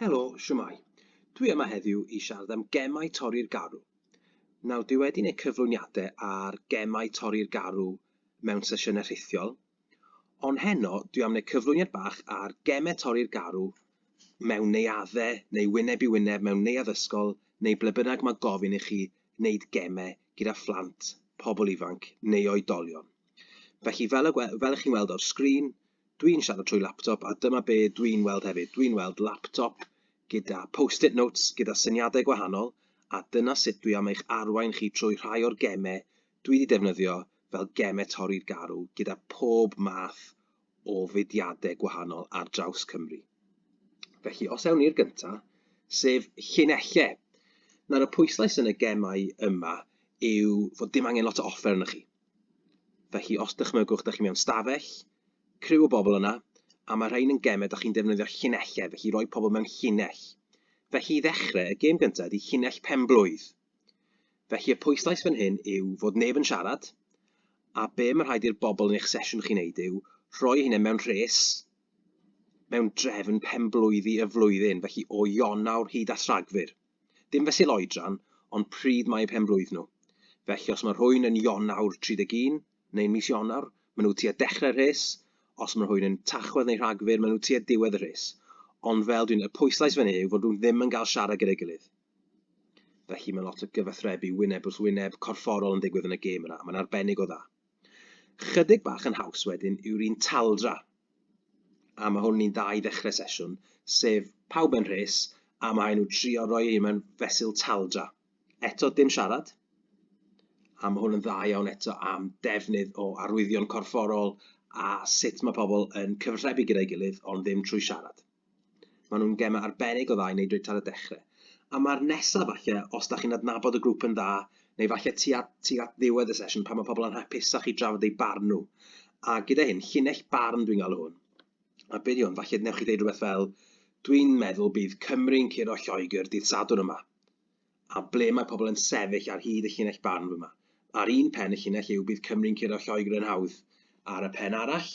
Helo, siwmai. Dwi yma heddiw i siarad am gemau torri'r garw. Nawr, dwi wedi gwneud cyflwyniadau ar gemau torri'r garw mewn sesiynau rhithiol, Ond heno dwi am neu cyflwyniad bach ar geme torri'r garw mewn neuadde neu wyneb i wyneb mewn neuadd ysgol neu ble bynnag mae gofyn i chi wneud geme gyda phlant, pobl ifanc neu oedolion. Felly fel y fel chi'n weld o'r sgrin dwi'n siarad trwy laptop a dyma be dwi'n weld hefyd, dwi'n weld laptop gyda post-it notes gyda syniadau gwahanol a dyna sut dwi am eich arwain chi trwy rhai o'r geme dwi 'di defnyddio fel geme torri'r garw gyda pob math o fudiadau gwahanol ar draws Cymru. Felly, os ewn ni i'r gynta, sef llinelle. Nawr, y pwyslais yn y gemau yma yw fod dim angen lot o offer yna chi. Felly, os dychmygwch, da chi mewn stafell, criw o bobl yna, a mae rhain yn gemau, da chi'n defnyddio llinellau, felly roi pobl mewn llinell. Felly i ddechrau, y gêm gyntaf ydy llinell penblwydd. Felly y pwyslais fan hyn yw fod neb yn siarad, a be mae'n rhaid i'r bobl yn eich sesiwn chi wneud yw rhoi eu hunain mewn rhes mewn drefn penblwyddi y flwyddyn, felly o Ionawr hyd at Rhagfyr. Dim fesul oedran, ond pryd mae eu penblwydd nhw. Felly os mae rhywun yn Ionawr 31, neu'n mis Ionawr, maen nhw tua dechrau'r rhes, os mae rhywun yn Tachwedd neu Rhagfyr, maen nhw tua diwedd y rhes. Ond fel dwi'n y pwyslais fan hyn yw fod nhw ddim yn cael siarad gyda'i gilydd. Felly mae lot o gyfathrebu wyneb wrth wyneb, corfforol yn ddigwydd yn y gêm yna, a mae'n arbennig o dda. Chydig bach yn haws wedyn yw'r un taldra, a mae hwn yn un dda i ddechrau sesiwn, sef pawb yn rhes, a mae nhw trio roi ei mewn fesul taldra. Eto dim siarad, a mae hwn yn dda iawn eto am defnydd o arwyddion corfforol a sut mae pobl yn cyfathrebu gyda'i gilydd ond ddim trwy siarad. Maen nhw'n gemau arbennig o dda i wneud reit ar y dechrau. A mae'r nesaf falle, os da chi'n adnabod y grŵp yn dda, neu falle tu at, tu at ddiwedd y sesiwn pan mae pobl yn hapusach i drafod eu barn nhw. A gyda hyn, llinell barn dwi'n galw hwn. A beth yw hwn? Falle newch chi ddeud rhywbeth fel, dwi'n meddwl bydd Cymru'n curo Lloegr dydd Sadwrn yma. a ble mae pobl yn sefyll ar hyd y llinell barn fyma. Ar un pen y llinell yw bydd Cymru'n curo Lloegr yn hawdd. Ar y pen arall,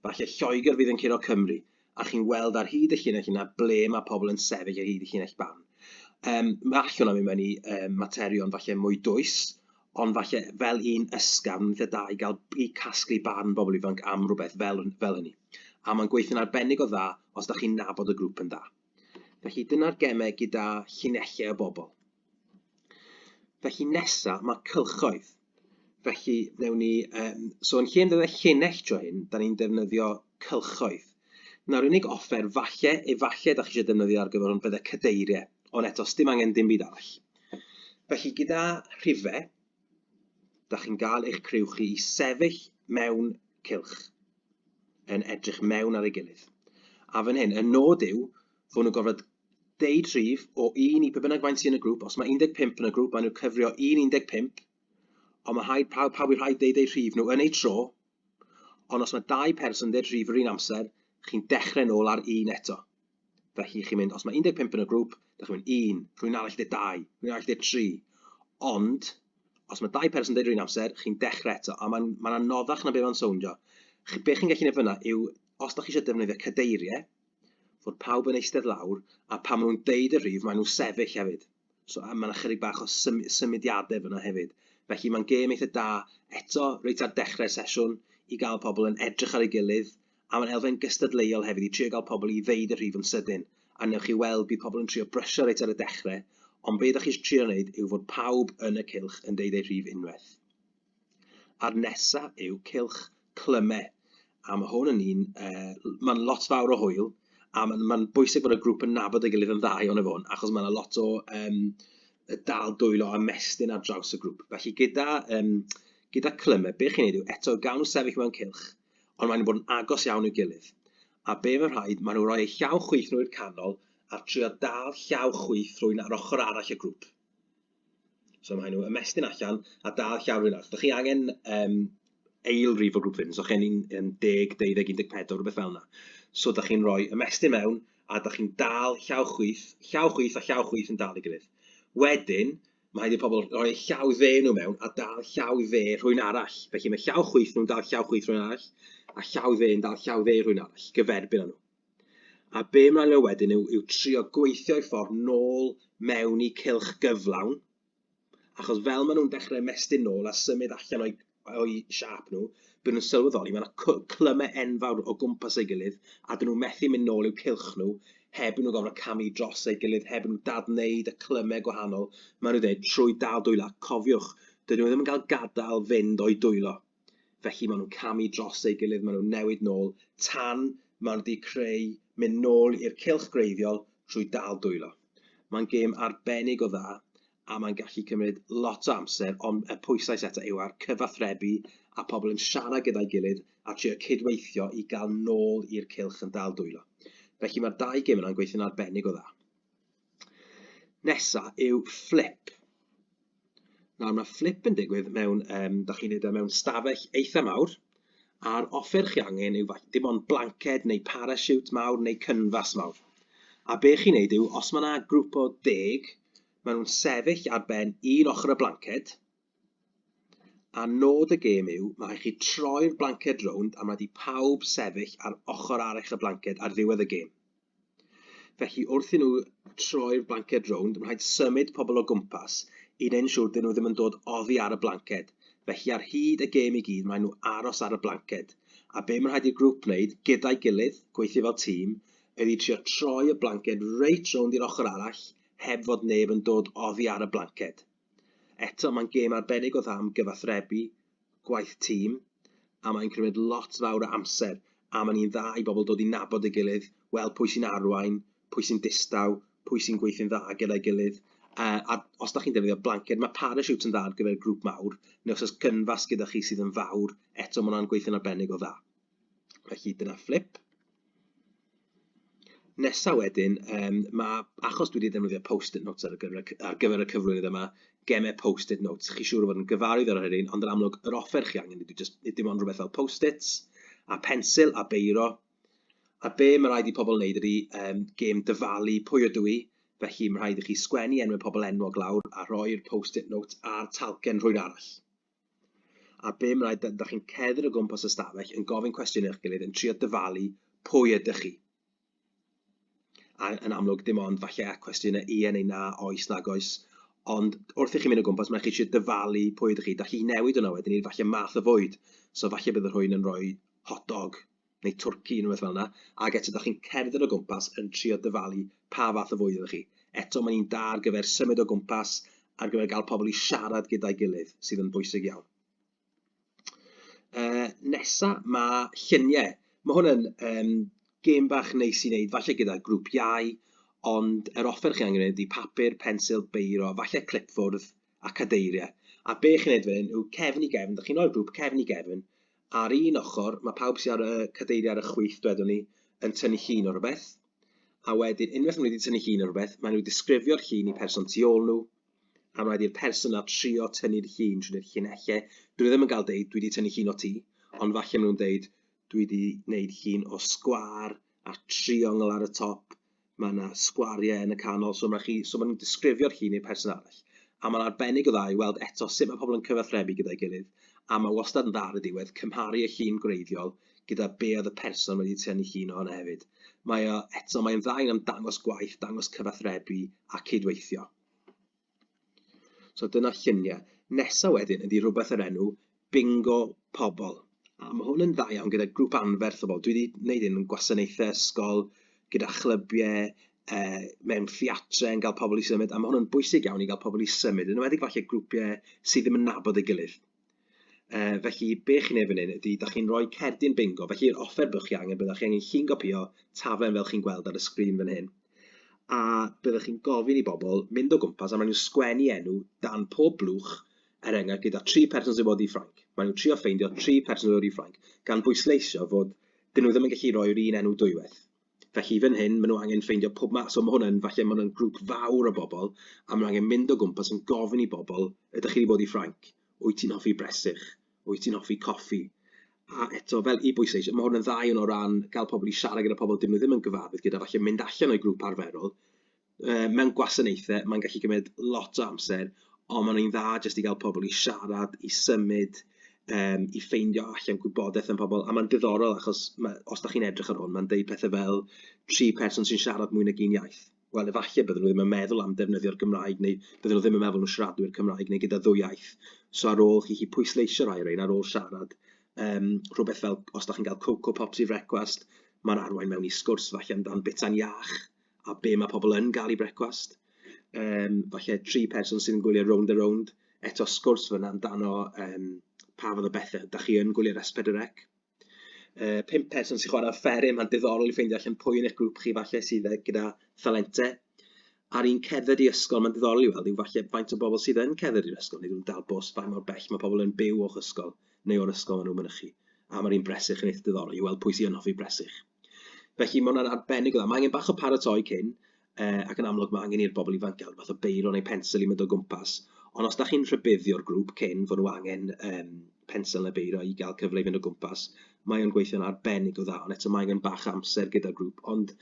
falle Lloegr fydd yn curo Cymru, a chi'n weld ar hyd y llinell yna ble mae pobl yn sefyll ar hyd y llinell barn. Um, mae all hwnna mynd mewn i um, materion falle mwy dwys, ond falle fel un ysgafn lle da i gael i casglu barn bobl ifanc am rhywbeth fel, fel hynny. A mae'n gweithio'n arbennig o dda os da chi'n nabod y grŵp yn dda. Felly dyna'r gemau gyda llinellau o bobl. Felly nesa, mae cylchoedd. Felly, newn ni... Um, so, yn lle yn dweud llinell dro hyn, da ni'n defnyddio cylchoedd. Nawr, unig offer, falle, efallai, da chi eisiau defnyddio ar gyfer hwn, bydde cadeiriau. Ond eto, dim angen dim byd arall. Felly, gyda rhifau, dach chi'n gael eich criw chi i sefyll mewn cilch yn edrych mewn ar ei gilydd. A fan hyn, y nod yw fod nhw'n gorfod deud rhif o un i pe bynnag faint sy'n y grŵp. Os mae 15 yn y grŵp, maen nhw'n cyfrio un 15, ond mae rhaid pawb, pawb i rhaid deud eu rhif nhw yn eu tro. Ond os mae dau person yn deud rhif yr un amser, chi'n dechrau nôl ar un eto. Felly chi'n mynd, os mae 15 yn y grŵp, da chi'n mynd un, rwy'n arall dweud dau, rwy'n arall dweud tri. Ond, os mae dau person yn dweud rwy'n amser, chi'n dechrau eto, a mae'n ma anoddach na beth mae'n sowndio. Be chi'n gallu gwneud fyna yw, os da chi eisiau defnyddio cadeiriau, fod pawb yn eistedd lawr, a pan maen nhw'n deud y rhif, maen nhw'n sefyll hefyd. So, a mae'n ychydig bach o sym symudiadau fyna hefyd. Felly mae'n gêm eitha da, eto, reit ar dechrau'r sesiwn, i gael pobl yn edrych ar ei gilydd, A mae'n elfen gystadleuol hefyd i trio gael pobl i ddeud y rhif yn sydyn, a wnewch chi weld bydd pobl yn trio brysio reit ar y dechrau, ond be ydych chi eisiau trio wneud yw fod pawb yn y cylch yn deud eu rhif unwaith. A'r nesa yw cylch clyme, a mae hwn yn un, uh, mae'n lot fawr o hwyl, a mae'n ma bwysig bod y grŵp yn nabod ei gilydd yn dda iawn efo hwn, achos mae yna lot o um, dal dwylo a mestyn ar draws y grŵp. Felly gyda, um, gyda clyme, be chi'n ei wneud yw eto gawn nhw sefyll mewn cylch, ond maen nhw'n bod yn agos iawn i'w gilydd. A be mae'n rhaid, maen nhw'n rhoi eu llaw chwith nhw i'r canol a trio dal llaw chwith rhywun ar ochr arall y grŵp. So mae nhw ymestyn allan a dal llaw rhywun arall. Dych chi angen um, eil rif o grŵp fynd, so chen ni'n 10, 12, 14, rhywbeth fel yna. So dych chi'n rhoi ymestyn mewn a dych chi'n dal llaw chwith, llaw chwith a llaw chwith yn dal i gilydd. Wedyn, Mae rhaid i'r pobl rhoi eu llaw dde nhw mewn a dal llaw dde rhywun arall. Felly mae llaw chwith nhw'n dal llaw chwith rhywun arall a llaw dde yn dal llaw dde rhywun arall, gyferbyn â nhw. A be ymlaen mewn wedyn yw, yw trio gweithio'i ffordd nôl mewn i cylch gyflawn, achos fel maen nhw'n dechrau mestyn nôl a symud allan o'i o'u siâp nhw, bydden nhw'n sylweddoli mae 'na cw- clymau enfawr o gwmpas ei gilydd, a 'dyn nhw methu mynd nôl i'w cylch nhw heb i nhw gorfod camu dros ei gilydd, heb i nhw dad-wneud y clymau gwahanol, maen nhw'n dweud, trwy dal dwylo. Ac cofiwch, dydyn nhw ddim yn cael gadael fynd o'u dwylo. Felly maen nhw'n camu dros ei gilydd, maen nhw'n newid nôl, tan maen nhw wedi creu mynd nôl i'r cylch greiddiol trwy dal dwylo. Mae'n gêm arbennig o dda, a mae'n gallu cymryd lot o amser, ond y pwyslais eto yw ar cyfathrebu a pobl yn siarad gyda'i gilydd a trio cydweithio i gael nôl i'r cylch yn dal dwylo. Felly mae'r dau gym yna'n gweithio'n arbennig o dda. Nesa yw flip. Nawr mae flip yn digwydd mewn, um, da chi'n neud e mewn stafell eitha mawr, a'r offer chi angen yw dim ond blanced neu parachute mawr neu cynfas mawr. A be chi'n neud yw, os mae yna grŵp o deg Maen nhw'n sefyll ar ben un ochr y blanced, a nod y gêm yw, mae rhaid chi troi'r blanced rownd a mae di pawb sefyll ar ochr arall y blanced ar ddiwedd y gêm. Felly wrth i nhw troi'r blanced rownd, mae rhaid symud pobl o gwmpas i wneud yn siŵr dyn nhw ddim yn dod oddi ar y blanced. Felly ar hyd y gêm i gyd, maen nhw aros ar y blanced. A be mae'n rhaid i'r grŵp wneud gyda'i gilydd, gweithio fel tîm, Gei di trio troi y blanced reit rownd i'r ochr arall heb fod neb yn dod oddi ar y blanced. Eto, mae'n gêm arbennig o dda am gyfathrebu, gwaith tîm, a mae'n cymryd lot fawr o amser, a mae'n un dda i bobl dod i nabod ei gilydd, weld pwy sy'n arwain, pwy sy'n distaw, pwy sy'n gweithio'n dda gyda'i gilydd. Uh, a os da chi'n defnyddio blanced, mae parachutes yn dda ar gyfer grŵp mawr, neu os oes cynfas gyda chi sydd yn fawr, eto mae hwnna'n gweithio'n arbennig o dda. Felly dyna fflip. Nesa wedyn, um, mae, achos dwi wedi defnyddio post-it notes ar, gyfer, ar gyfer y cyflwynydd yma, gemau post-it notes. Chi siŵr o fod yn gyfarwydd ar hynny, ond yn amlwg, yr offer chi angen ydy just, dim ond rhywbeth fel post-its, a pensil, a beiro. A be mae rhaid i pobl wneud ydy um, gêm dyfalu pwy ydw i, felly mae rhaid i chi sgwennu enwau pobl enwog lawr a rhoi'r post-it notes a'r talcen rhwy'r arall. a bum rhaid ydych chi'n cedr o gwmpas y stafell yn gofyn cwestiwn i'ch gilydd yn trio dyfalu pwy ydych chi. A yn amlwg dim ond falle a cwestiynau ie neu na, oes, nag oes, ond wrth i chi mynd o gwmpas mae'n chi eisiau dyfalu pwy ydych chi, da chi newid hwnna wedyn i'r falle math o fwyd, so falle bydd y rhwy'n yn rhoi hot dog neu twrci, neu rywbeth fel 'na, ac eto dach chi'n cerdded o gwmpas yn trio dyfalu pa fath o fwyd ydych chi. Eto, mae'n un da ar gyfer symud o gwmpas, ar gyfer gael pobl i siarad gyda'i gilydd, sydd yn bwysig iawn. Uh, nesa, mae lluniau. Mae hwn yn um, gêm bach neis i wneud, falle gyda grŵp iau, ond yr offer chi angen ydy papur, pensil, beiro, falle clipfwrdd a cadeiriau. A be chi'n neud fan hyn yw cefn i gefn, ydych chi'n rhoi'r grŵp cefn i gefn, Ar un ochr, mae pawb sydd ar y cadeiriau ar y chwith, dwedwn ni, yn tynnu llun o rhywbeth, a wedyn, unwaith maen nhw wedi tynnu llun o rhywbeth, maen nhw disgrifio'r llun i person tu ôl nhw, a mae rhaid person na trio tynnu'r llun trwy'r llinellau. Dwi ddim yn cael deud, dwi wedi tynnu llun o ti, ond falle maen nhw'n deud, dwi wedi gwneud llun o sgwar a triongl ar y top, Mae yna sgwariau yn y canol, so mae chi, so maen nhw'n disgrifio'r llun i'r person arall. A mae'n arbennig o dda i weld eto sut mae pobl yn cyfathrebu gyda'i gilydd, a mae wastad yn dda ar y diwedd cymharu y llun gwreiddiol gyda be oedd y person wedi tynnu llun ohono hefyd. Mae o, eto, mae'n dda iawn am dangos gwaith, dangos cyfathrebu a cydweithio. So dyna lluniau. Nesa wedyn ydy rhywbeth yr enw Bingo Pobl. A mae hwn yn dda iawn gyda grŵp anferth o bobl. Dwi wedi gwneud hyn yn gwasanaethau ysgol, gyda chlybiau, uh, mewn theatrau yn cael pobl i symud, a mae hwn yn bwysig iawn i gael pobl i symud, yn wedi falle grwpiau sydd ddim yn nabod ei gilydd. Uh, felly, be chi'n ei fan hyn ydy, da chi'n rhoi cerdyn bingo, felly yr offer byddwch chi angen, byddwch chi angen chi'n gopio taflen fel chi'n gweld ar y sgrin fan hyn, a byddwch chi'n gofyn i bobl mynd o gwmpas a maen nhw'n sgwennu enw dan pob blwch er enghraifft gyda tri person sy'n bod i Ffrainc. Maen nhw'n trio ffeindio tri person sy'n bod i Ffrainc, gan bwysleisio fod dyn nhw ddim yn gallu rhoi'r un enw dwywaith. Felly fan hyn, maen nhw angen ffeindio pob ma-... So ma' hwn yn, falle ma' hwn yn grŵp fawr o bobl, a maen nhw angen mynd o gwmpas yn gofyn i bobl, ydych chi wedi bod i Ffrainc? Wyt ti'n hoffi bresych? Wyt ti'n hoffi coffi? A eto, fel i bwysleisio, ma' hwn yn dda iawn o ran cael pobl i siarad gyda pobl dydyn nhw ddim yn gyfarwydd gyda, falle mynd allan o'u grŵp arferol, uh, mewn gwasanaethau, mae'n gallu cymryd lot o amser, ond mae'n ein dda jyst i gael pobl i siarad, i symud, um, i ffeindio allan gwybodaeth yn pobl. A mae'n diddorol achos ma, os da chi'n edrych ar hwn, mae'n deud pethau fel tri person sy'n siarad mwy nag un iaith. Wel, efallai byddwn nhw ddim yn meddwl am defnyddio'r Gymraeg neu byddwn nhw ddim yn meddwl nhw siaradwyr Cymraeg neu gyda ddwy iaith. So ar ôl chi chi pwysleisio rai o'r ein ar ôl siarad, um, rhywbeth fel os da chi'n cael Coco Pops i frecwast, mae'n arwain mewn i sgwrs falle amdan bita'n iach, a be mae pobl yn gael i brecwast. Um, falle tri person sy'n gwylio round a round. Eto sgwrs fyna amdano um, pa fod o bethau. Da chi yn gwylio'r esbedrec. Uh, pimp person sy'n chwarae fferin, mae'n diddorol i ffeindio allan pwy yn eich grŵp chi falle sydd e gyda thalentau. Ar un ceddyr i ysgol, mae'n diddorol i weld yw falle faint o bobl sydd yn ceddyr i'r ysgol, neu dwi'n dal bos faint mor bell mae pobl yn byw o'ch ysgol neu o'r ysgol maen nhw'n mynychu. A mae'r un bresych yn eithaf diddorol i weld pwy sy'n hoffi bresych. Felly mae hwnna'n arbennig o dda. Mae angen bach o paratoi cyn, uh, ac yn amlwg mae angen i'r bobl ifanc gael fath o beiro neu pensel i mynd o gwmpas. Ond os da chi'n rhybuddio'r grŵp cyn fod nhw angen um, pensel neu beiro i gael cyfle i fynd o gwmpas, mae o'n gweithio'n arbennig o dda, ond eto mae angen bach amser gyda'r grŵp. Ond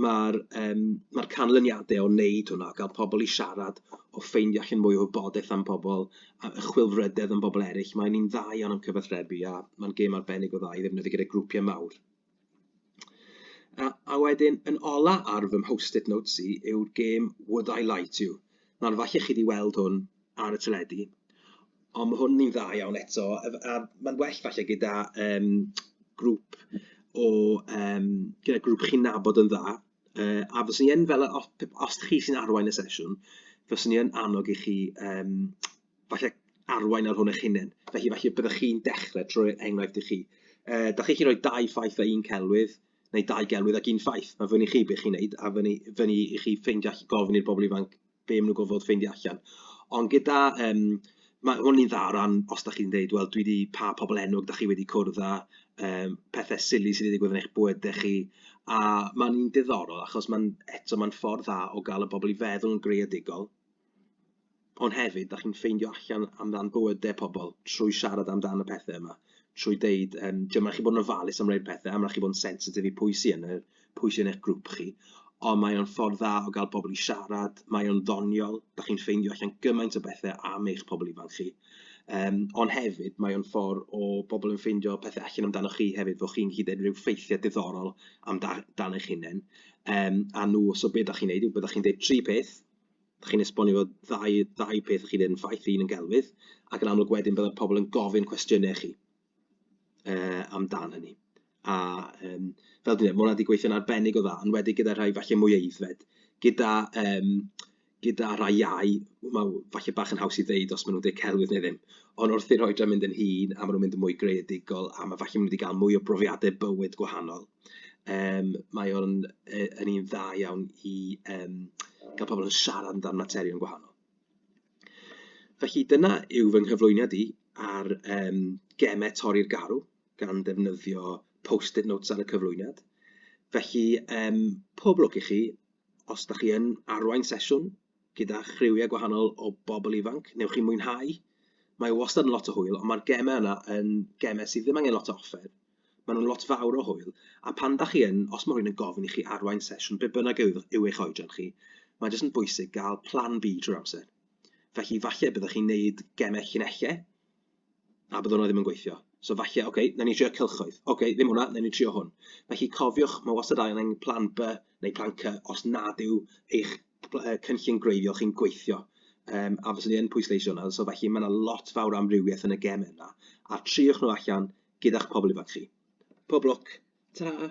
mae'r um, ma canlyniadau o wneud hwnna, gael pobl i siarad, o ffeindio allan mwy o wybodaeth am pobl, a y chwilfrydedd am bobl eraill, mae'n un dda iawn am cyfathrebu a mae'n gêm arbennig o dda i ddefnyddio gyda grwpiau mawr. A, a wedyn, yn ola ar fy mhost-it notes i yw'r gêm Would I Lie To You. Nawr, falle chi wedi weld hwn ar y teledu, ond mae hwn yn dda iawn eto, a mae'n well falle gyda um, grŵp o, um, gyda grŵp chi'n nabod yn dda, uh, a fyswn i yn fel, os, os chi sy'n arwain y sesiwn, fyswn i yn annog i chi um, falle arwain ar hwn eich hunain. Felly, falle byddwch chi'n dechrau trwy enghraifft i chi. E, da chi'n rhoi dau ffaith a un celwydd, neu dau gelwydd ac un ffaith. Mae fyny chi beth chi'n neud, a fyny, fyny i chi ffeindio allan, gofyn i'r bobl ifanc be maen nhw'n gofod ffeindio allan. Ond gyda, um, mae hwn i'n dda o ran, os da chi'n dweud, wel, dwi wedi pa pobl enwog da chi wedi cwrdd â, um, pethau sili sydd wedi digwydd yn eich bwyd da chi, a mae'n un diddorol, achos mae'n, eto, mae'n ffordd dda o gael y bobl i feddwl yn greadigol, Ond hefyd, da chi'n ffeindio allan amdan bywydau pobl trwy siarad amdan y pethau yma, trwy deud, um, ti'n mynd chi bod yn ofalus am rhaid pethau, am rhaid chi bod yn sensitif i pwy sy'n yn, pwy sy'n eich grŵp chi. Ond mae o'n ffordd dda o gael pobl i siarad, mae o'n ddoniol, da chi'n ffeindio allan gymaint o bethau am eich pobl ifanc chi. Um, ond hefyd, mae o'n ffordd o bobl yn ffeindio pethau allan amdano chi hefyd, fod chi'n hyd yn rhyw ffeithiau diddorol amdano eich hunain. Um, a nhw, so beth ydych chi'n neud, beth ydych chi'n dweud tri peth, dach chi'n esbonio fod ddau, ddau peth chi'n yn ffaith, un yn gelfydd, ac yn amlwg wedyn byddai pobl yn gofyn cwestiynau chi uh, amdan hynny. A um, fel dwi'n dweud, mae hwnna wedi gweithio'n arbennig o dda, yn wedi gyda rhai falle mwy eiddfed, gyda, um, gyda rhai iau, mae falle bach yn haws i ddeud os maen nhw'n dweud celwydd neu ddim, ond wrth i'r oedran mynd yn hun, a maen nhw'n mynd yn mwy greadigol, a mae falle maen nhw wedi cael mwy o brofiadau bywyd gwahanol, Yym, mae o'n yy yn un dda iawn i yym gael pobl yn siarad amdan materion gwahanol. Felly dyna yw fy nghyflwyniad i ar yym gemau torri'r garw gan ddefnyddio post-it notes ar y cyflwyniad. Felly yym pob lwc i chi os da chi yn arwain sesiwn gyda chriwiau gwahanol o bobl ifanc, newch chi mwynhau. Mae wastad yn lot o hwyl, ond mae'r gemau yna yn gemau sydd ddim angen lot o offer. Maen nhw'n lot fawr o hwyl, a pan dach chi yn, os mae rhywun yn gofyn i chi arwain sesiwn be bynnag yw, yw eich oedran chi, mae jyst yn bwysig gael plan B trwy'r amser. Felly falle byddwch chi'n neud gemau llinellau, a byddwn nhw ddim yn gweithio. So falle, oce, okay, na ni trio cylchoedd. Oce, okay, ddim hwnna, na ni trio hwn. Felly cofiwch, mae wastad angen plan B neu plan C os nad yw eich cynllun gwreiddiol chi'n gweithio. Um, a fyswn i yn pwysleisio hwnna, so felly mae yna lot fawr amrywiaeth yn y gem yna. A triwch nhw allan, Gyda'ch pobl ifanc chi. Pob lwc. Ta-ra!